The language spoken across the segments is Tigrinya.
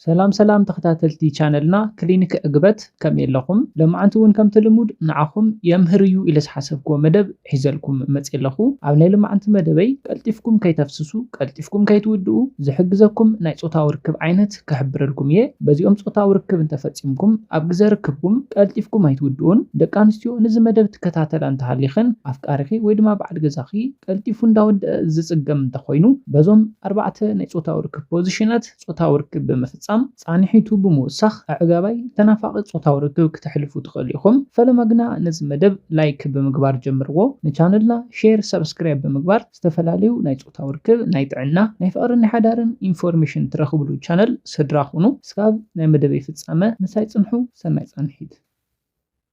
ሰላም ሰላም ተከታተልቲ ቻነልና ክሊኒክ ዕግበት ከመይ ኣለኹም ለማዓንቲ ውን ከምቲ ልሙድ ንዓኹም የምህር እዩ ኢለ ዝሓሰብክዎ መደብ ሒዘልኩም መፅየ ኣለኹ ኣብ ናይ ልማዓንቲ መደበይ ቀልጢፍኩም ከይተፍስሱ ቀልጢፍኩም ከይትውድኡ ዝሕግዘኩም ናይ ፆታዊ ርክብ ዓይነት ክሕብረልኩም እየ በዚኦም ፆታዊ ርክብ እንተፈፂምኩም ኣብ ግዘ ርክብኩም ቀልጢፍኩም ኣይትውድኡን ደቂ ኣንስትዮ ንዚ መደብ ትከታተላ እንተሃሊኽን ኣፍቃሪኺ ወይ ድማ በዓል ገዛኺ ቀልጢፉ እንዳወደኣ ዝፅገም እንተኾይኑ በዞም ኣርባዕተ ናይ ፆታዊ ርክብ ፖዝሽናት ጾታዊ ርክብ ብምፍጻም ጻንሒቱ ብምውሳኽ ኣዕጋባይ ተናፋቒ ጾታዊ ርክብ ክተሕልፉ ትኽእሉ ኢኹም ፈለማ ግና ነዚ መደብ ላይክ ብምግባር ጀምርዎ ንቻነልና ሼር ሳብስክራይብ ብምግባር ዝተፈላለዩ ናይ ጾታዊ ርክብ ናይ ጥዕና ናይ ፍቕርን ናይ ሓዳርን ኢንፎርሜሽን ትረኽብሉ ቻነል ስድራ ኹኑ እስካብ ናይ መደበይ ፍጻመ ምሳይ ጽንሑ ሰናይ ጻንሒት።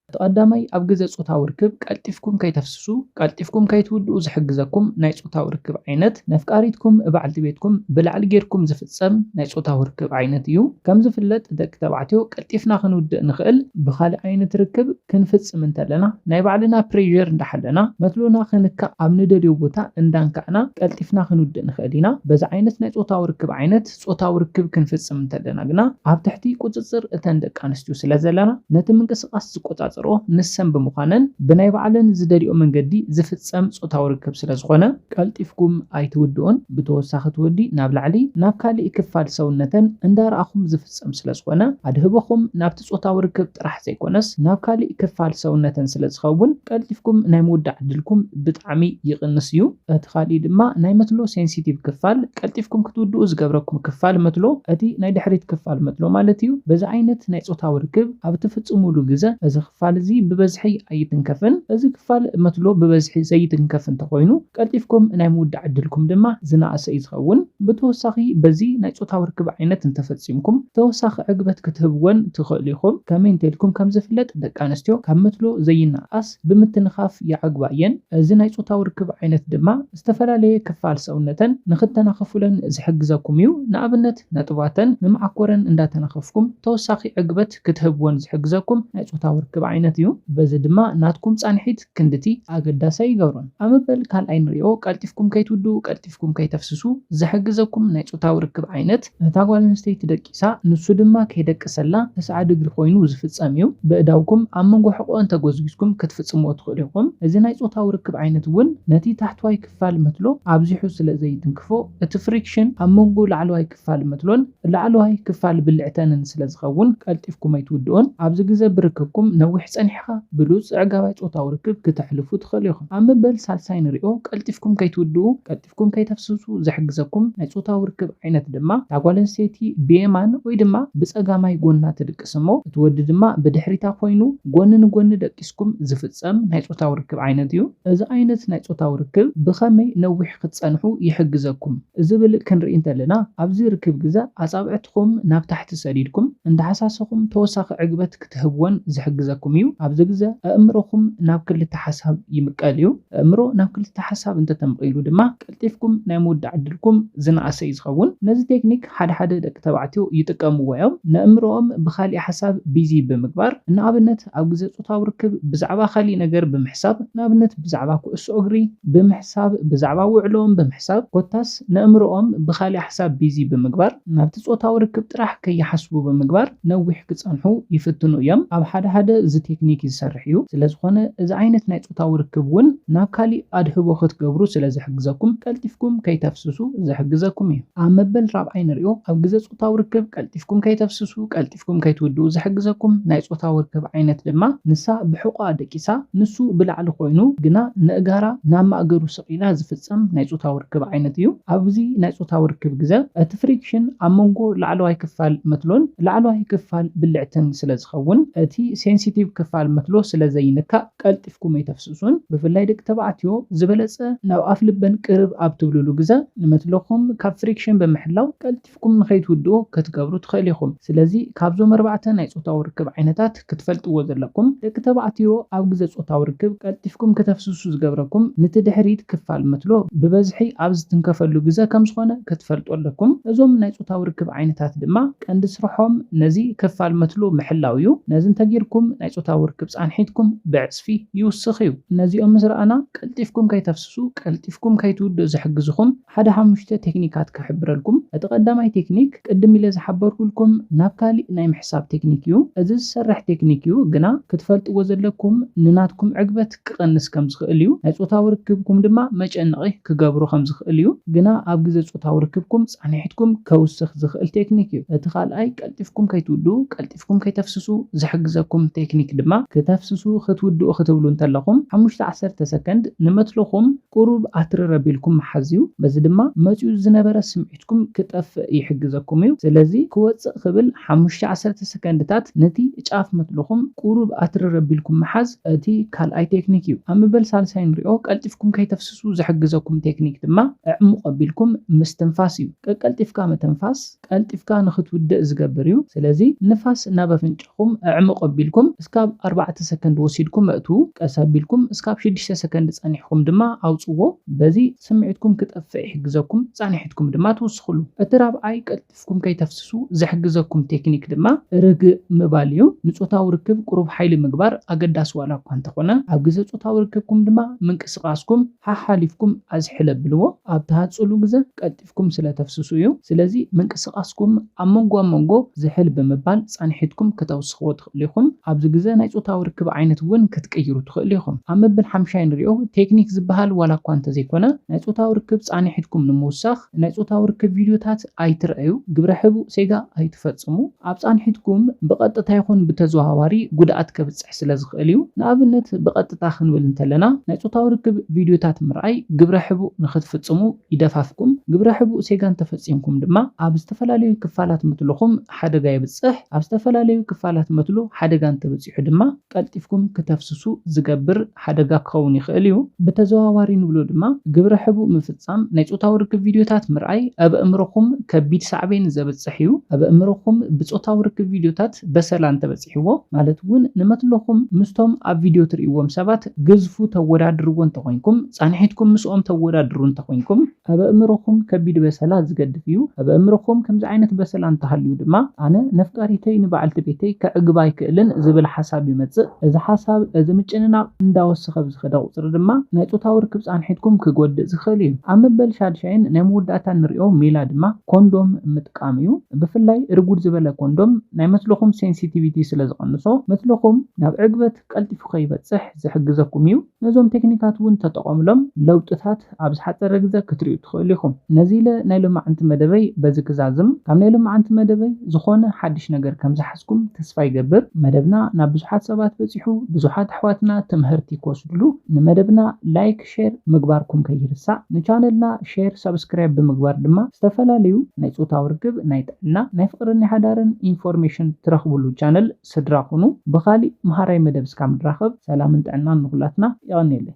እቲ ቀዳማይ ኣብ ግዘ ፆታዊ ርክብ ቀልጢፍኩም ከይተፍስሱ ቀልጢፍኩም ከይትውድኡ ዝሕግዘኩም ናይ ፆታዊ ርክብ ዓይነት ነፍቃሪትኩም እባዕልቲ ቤትኩም ብላዕሊ ገይርኩም ዝፍፀም ናይ ፆታዊ ርክብ ዓይነት እዩ። ከምዝፍለጥ ደቂ ተባዕትዮ ቀልጢፍና ክንውድእ ንኽእል ብኻሊእ ዓይነት ርክብ ክንፍፅም እንተለና ናይ ባዕልና ፕሬዠር እንዳሓለና መትሎና ክንካእ ኣብ ንደልዮ ቦታ እንዳንካእና ቀልጢፍና ክንውድእ ንኽእል ኢና በዚ ዓይነት ናይ ፆታዊ ርክብ ዓይነት ጾታዊ ርክብ ክንፍጽም እንተለና ግና ኣብ ትሕቲ ቁጽጽር እተን ደቂ ኣንስትዮ ስለ ዘለና ነቲ ምንቅስቓስ ዝቆጻጸርኦ ንሰን ብምዃነን ብናይ ባዕለን ዝደልይኦ መንገዲ ዝፍጸም ጾታዊ ርክብ ስለ ዝኾነ ቀልጢፍኩም ኣይትውድኡን ብተወሳኺ እቲ ወዲ ናብ ላዕሊ ናብ ካሊእ ክፋል ሰውነተን እንዳረኣኹም ዝፍጸም ስለ ዝኾነ ኣድህቦኹም ናብቲ ብጾታዊ ርክብ ጥራሕ ዘይኮነስ ናብ ካሊእ ክፋል ሰውነተን ስለ ዝኸውን ቀልጢፍኩም ናይ ምውዳእ ዕድልኩም ብጣዕሚ ይቕንስ እዩ። እቲ ካሊእ ድማ ናይ መትሎ ሴንሲቲቭ ክፋል ቀልጢፍኩም ክትውድኡ ዝገብረኩም ክፋል መትሎ እቲ ናይ ድሕሪት ክፋል መትሎ ማለት እዩ። በዚ ዓይነት ናይ ጾታዊ ርክብ ኣብ እትፍጽሙሉ ግዘ እዚ ክፋል እዚ ብበዝሒ ኣይትንከፍን። እዚ ክፋል መትሎ ብበዝሒ ዘይትንከፍ እንተኾይኑ፣ ቀልጢፍኩም ናይ ምውዳእ ዕድልኩም ድማ ዝነኣሰ እዩ ዝኸውን። ብተወሳኺ በዚ ናይ ጾታዊ ርክብ ዓይነት እንተፈጺምኩም ተወሳኺ ዕግበት ክትህብወን ትኽእሉ ኢኹም። ከመይ እንተኢልኩም ከም ዝፍለጥ ደቂ ኣንስትዮ ካብ መትሎ ዘይነኣኣስ ብምትንኻፍ ይዓግባ እየን። እዚ ናይ ጾታዊ ርክብ ዓይነት ድማ ዝተፈላለየ ክፋል ሰውነተን ንኽተናኽፉለን ዝሕግዘኩም እዩ። ንኣብነት ነጥባተን ንመዓኮረን እንዳተናኸፍኩም ተወሳኺ ዕግበት ክትህብወን ዝሕግዘኩም ናይ ጾታዊ ርክብ ዓይነት እዩ። በዚ ድማ ናትኩም ጻንሒት ክንድቲ ኣገዳሲ ኣይገብሮን። ኣብ መበል ካልኣይ ንሪኦ፣ ቀልጢፍኩም ከይትውድኡ፣ ቀልጢፍኩም ከይተፍስሱ ዝሕግዘኩም ናይ ጾታዊ ርክብ ዓይነት፣ እታ ጓል ኣንስተይቲ ደቂሳ ንሱ ድማ ከይደቀሰላ ተስዓ ድግሪ ኮይኑ ዝፍጸም እዩ። በእዳውኩም ኣብ መንጎ ሕቖኣን ተጎዝጒዝኩም ክትፍጽምዎ ትኽእሉ ኢኹም። እዚ ናይ ጾታዊ ርክብ ዓይነት እውን ነቲ ታሕተዋይ ክፋል መትሎ ኣብዚሑ ስለ ዘይትንክፎ፣ እቲ ፍሪክሽን ኣብ መንጎ ላዕለዋይ ክፋል መትሎን ላዕለዋይ ክፋል ብልዕተንን ስለ ዝኸውን ቀልጢፍኩም ኣይትውድኡን። ኣብዚ ግዘ ብርክብኩም ነዊሕ ፀኒሕኻ ብሉፅ ኣዕጋባይ ፆታዊ ርክብ ክተሕልፉ ትኽእሉ ኢኹም። ኣብ መበል ሳልሳይ ንሪኦ ቀልጢፍኩም ከይትውድኡ፣ ቀልጢፍኩም ከይተፍስሱ ዝሕግዘኩም ናይ ፆታዊ ርክብ ዓይነት ድማ እታ ጓል ኣንስተይቲ ብየማን ወይ ድማ ብፀጋማይ ጎና ትድቅስ እሞ እቲ ወዲ ድማ ብድሕሪታ ኮይኑ ጎኒ ንጎኒ ደቂስኩም ዝፍፀም ናይ ፆታዊ ርክብ ዓይነት እዩ። እዚ ዓይነት ናይ ፆታዊ ርክብ ብኸመይ ነዊሕ ክትፀንሑ ይሕግዘኩም? ዝብል ክንርኢ እንተለና ኣብዚ ርክብ ግዘ ኣፃብዕትኹም ናብ ታሕቲ ሰዲድኩም እንዳሃሳሰኹም ተወሳኺ ዕግበት ክትህብዎን ዝሕግዘኩም እዩ። ኣብዚ ግዘ ኣእምሮኹም ናብ ክልተ ሓሳብ ይምቀል እዩ። ኣእምሮ ናብ ክልተ ሓሳብ እንተተምቒሉ ድማ ቀልጢፍኩም ናይ ምውዳእ ዕድልኩም ዝነኣሰ እዩ ዝኸውን። ነዚ ቴክኒክ ሓደ ሓደ ደቂ ተባዕትዮ ይጥቀምዎ እዮም። ነእምሮኦም ብኻሊእ ሓሳብ ቢዚ ብምግባር። ንኣብነት። ኣብ ግዜ ጾታዊ ርክብ ብዛዕባ ካልእ ነገር ብምሕሳብ፣ ንኣብነት ብዛዕባ ኩዕሶ እግሪ ብምሕሳብ፣ ብዛዕባ ውዕሎኦም ብምሕሳብ፣ ኮታስ ነእምሮኦም ብኻልእ ሓሳብ ቢዚ ብምግባር፣ ናብቲ ጾታዊ ርክብ ጥራሕ ከይሓስቡ ብምግባር ነዊሕ ክጸንሑ ይፍትኑ እዮም። ኣብ ሓደ ሓደ እዚ ቴክኒክ ይሰርሕ እዩ። ስለዝኾነ እዚ ዓይነት ናይ ጾታዊ ርክብ ውን ናብ ካልእ ኣድህቦ ክትገብሩ ስለዝሕግዘኩም ቀልጢፍኩም ከይተፍስሱ ዝሕግዘኩም እዩ። ኣብ መበል ራብዓይ ንሪኦ፣ ኣብ ግዜ ጾታዊ ርክብ ቀልጢፍኩም ከይተፍስሱ፣ ቀልጢፍኩም። ሓሊፍኩም ከይትውድኡ ዝሕግዘኩም ናይ ጾታዊ ርክብ ዓይነት ድማ፣ ንሳ ብሕቖኣ ደቂሳ ንሱ ብላዕሊ ኮይኑ ግና ነእጋራ ናብ ማእገሩ ሰቒላ ዝፍጸም ናይ ጾታዊ ርክብ ዓይነት እዩ። ኣብዚ ናይ ጾታዊ ርክብ ግዘ እቲ ፍሪክሽን ኣብ መንጎ ላዕለዋይ ክፋል መትሎን ላዕለዋይ ክፋል ብልዕትን ስለ ዝኸውን እቲ ሴንሲቲቭ ክፋል መትሎ ስለ ዘይንካእ ቀልጢፍኩም ኣይተፍስሱን። ብፍላይ ደቂ ተባዕትዮ ዝበለጸ ናብ ኣፍልበን ቅርብ ኣብ ትብሉሉ ግዘ ንመትሎኹም ካብ ፍሪክሽን ብምሕላው ቀልጢፍኩም ኣፍኩም ንኸይትውድኡ ከትገብሩ ትኸእሉ ኢኹም። ስለዚ ካብዞም ኣርባዕተ ናይ ጾታዊ ርክብ ዓይነታት ክትፈልጥዎ ዘለኩም፣ ደቂ ተባዕትዮ ኣብ ግዘ ጾታዊ ርክብ ቀልጢፍኩም ከተፍስሱ ዝገብረኩም ንቲ ድሕሪት ክፋል መትሎ ብበዝሒ ኣብ ዝትንከፈሉ ግዘ ከምዝኾነ ከትፈልጡ ኣለኩም። እዞም ናይ ጾታዊ ርክብ ዓይነታት ድማ ቀንዲ ስርሖም ነዚ ክፋል መትሎ ምሕላው እዩ። ነዚ እንተጌርኩም ናይ ጾታዊ ርክብ ጻንሒትኩም ብዕጽፊ ይውስኽ እዩ። ነዚኦም ምስ ረኣና ቀልጢፍኩም ከይተፍስሱ ቀልጢፍኩም ከይትውድኡ ዝሕግዝኹም፣ ሓደ ሓሙሽተ ቴክኒካት ክሕብረልኩም፣ እቲ ቀዳማይ ቴክኒክ ቅድም ኢለ ዝሓበርኩልኩም ናብ ካሊእ ናይ ምሕሳብ ቴክኒክ እዩ። እዚ ዝሰርሕ ቴክኒክ እዩ ግና ክትፈልጥዎ ዘለኩም ንናትኩም ዕግበት ክቀንስ ከም ዝክእል እዩ። ናይ ጾታዊ ርክብኩም ድማ መጨነቒ ክገብሮ ከም ዝክእል እዩ። ግና ኣብ ግዘ ጾታዊ ርክብኩም ፃኒሕትኩም ከውስክ ዝክእል ቴክኒክ እዩ። እቲ ካልኣይ ቀልጢፍኩም ከይትውድኡ፣ ቀልጢፍኩም ከይተፍስሱ፣ ዝሕግዘኩም ቴክኒክ ድማ ክተፍስሱ ክትውድኡ ክትብሉ እንተለኩም ሓሙሽተ ዓሰርተ ሰከንድ ንመትልኩም፣ ቁሩብ ኣትርር ኣቢልኩም ምሓዝ'ዩ፣ በዚ ድማ መጺኡ ዝነበረ ስምዒትኩም ክጠፍእ ይሕግዘኩም'ዩ። ስለዚ ክወጽእ ክብል ሓሙሽተ ዓሰርተ ሰከንድታት ነቲ ጫፍ መትልኹም ቁሩብ ኣትርር ኣቢልኩም ምሓዝ እቲ ካልኣይ ቴክኒክ'ዩ። ኣብ ምበል ሳልሳይ ንሪኦ፣ ቀልጢፍኩም ከይተፍስሱ ዝሕግዘኩም ቴክኒክ ድማ ኣዕሙቕ ኣቢልኩም ምስትንፋስ'ዩ። ቀቀልጢፍካ ምትንፋስ። ቀልጢፍካ ንኽትውድእ ዝገብር እዩ። ስለዚ ንፋስ ናብ ኣፍንጫኹም ኣዕሙቕ ኣቢልኩም እስካብ ኣርባዕተ ሰከንድ ወሲድኩም ኣእትዉ፣ ቀስ ኣቢልኩም እስካብ ሽዱሽተ ሰከንድ ጸኒሕኹም ድማ ኣውጽዎ። በዚ ስምዒትኩም ክጠፍእ ይሕግዘኩም፣ ጻንሒትኩም ድማ ትውስኽሉ። እቲ ራብዓይ ቀልጢፍኩም ከይተፍስሱ ዝሕግዘኩም ቴክኒክ ድማ ርግእ ምባል እዩ። ንጾታዊ ርክብ ቁሩብ ሓይሊ ምግባር ኣገዳሲ ዋላ እኳ እንተኾነ፣ ኣብ ግዘ ጾታዊ ርክብኩም ድማ ምንቅስቓስኩም ሓሓሊፍኩም ኣዝሕል ኣብልዎ። ኣብ ትሃጽሉ ግዘ ቀልጢፍኩም። ኣፍኩም ስለ ተፍስሱ እዩ። ስለዚ ምንቅስቃስኩም ኣብ መንጎ ኣብ መንጎ ዝሕል ብምባል ፃንሒትኩም ክተውስኽዎ ትኽእሉ ኢኹም። ኣብዚ ግዘ ናይ ፆታዊ ርክብ ዓይነት እውን ክትቅይሩ ትኽእሉ ኢኹም። ኣብ መብል ሓምሻይ ንሪኦ ቴክኒክ ዝበሃል ዋላ እኳ እንተዘይኮነ ናይ ፆታዊ ርክብ ፃንሒትኩም ንምውሳኽ ናይ ፆታዊ ርክብ ቪድዮታት ኣይትርኣዩ፣ ግብረ ሕቡእ ሴጋ ኣይትፈፅሙ። ኣብ ፃንሒትኩም ብቐጥታ ይኹን ብተዘዋዋሪ ጉድኣት ከብፅሕ ስለ ዝኽእል እዩ። ንኣብነት ብቐጥታ ክንብል እንተለና ናይ ፆታዊ ርክብ ቪድዮታት ምርኣይ ግብረ ሕቡእ ንኽትፍፅሙ ይደፋፍኩም፣ ግብረ ሕቡእ ሴጋ እንተፈጺምኩም ድማ ኣብ ዝተፈላለዩ ክፋላት ምትሉኹም ሓደጋ የብጽሕ፣ ኣብ ዝተፈላለዩ ክፋላት መትሉ ሓደጋ እንተበጺሑ ድማ ቀልጢፍኩም ክተፍስሱ ዝገብር ሓደጋ ክኸውን ይኽእል እዩ። ብተዘዋዋሪ ንብሎ ድማ ግብረ ሕቡእ ምፍጻም፣ ናይ ጾታዊ ርክብ ቪድዮታት ምርኣይ ኣብ ኣእምሮኹም ከቢድ ሳዕቤን ዘብጽሕ እዩ። ኣብ ኣእምሮኹም ብጾታዊ ርክብ ቪድዮታት በሰላ እንተበጺሑ፣ ፈትሕዎ ማለት ውን ንመትሎኹም ምስቶም ኣብ ቪድዮ ትርእይዎም ሰባት ግዝፉ ተወዳድርዎ እንተኾይንኩም ጻንሒትኩም ምስኦም ተወዳድሩ እንተኾይንኩም ኣብ ኣእምሮኹም ከቢድ በሰላ ዝገድፍ እዩ ኣብ ኣእምሮኹም ከምዚ ዓይነት በሰላ እንተሃልዩ ድማ ኣነ ነፍቃሪተይ ንበዓልቲ ቤተይ ከዕግባ ኣይክእልን ዝብል ሓሳብ ይመጽእ እዚ ሓሳብ እዚ ምጭንናቕ እንዳወሰኸ ብዝኸደ ቁጽሪ ድማ ናይ ጾታዊ ርክብ ጻንሒትኩም ክጎድእ ዝኽእል እዩ ኣብ መበል ሻድሻይን ናይ መወዳእታን ንሪኦ ሜላ ድማ ኮንዶም ጠቃሚ እዩ ብፍላይ ርጉድ ዝበለ ኮንዶም ናይ መትልኹም ሴንሲቲቪቲ ስለ ዝቅንሶ መትልኹም ናብ ዕግበት ቀልጢፉ ከይበጽሕ ዝሕግዘኩም እዩ ነዞም ቴክኒካት እውን ተጠቀምሎም ለውጥታት ኣብ ዝሓጸረ ግዘ ክትሪኡ ትኽእሉ ኢኹም ነዚ ኢለ ናይ ሎማዓንቲ መደበይ በዚ ክዛዝም ካብ ናይ ሎማዓንቲ መደበይ ዝኾነ ሓድሽ ነገር ከም ዝሓዝኩም ተስፋ ይገብር መደብና ናብ ብዙሓት ሰባት በጺሑ ብዙሓት ኣሕዋትና ትምሀርቲ ክወስድሉ ንመደብና like ሼር ምግባርኩም ከይርሳዕ ንቻነልና ሼር ሳብስክራይብ ብምግባር ድማ ዝተፈላለዩ ናይ ፆታዊ ርክብ ናይ ጥዕና ናይ ፍቅርን ናይ ሓዳርን ኢንፎርሜሽን ትረክብሉ ቻነል ስድራ ኩኑ ብካሊእ መሃራይ መደብ እስካብ ንራከብ ሰላምን ጥዕናን ንኩላትና የቀንየለይ።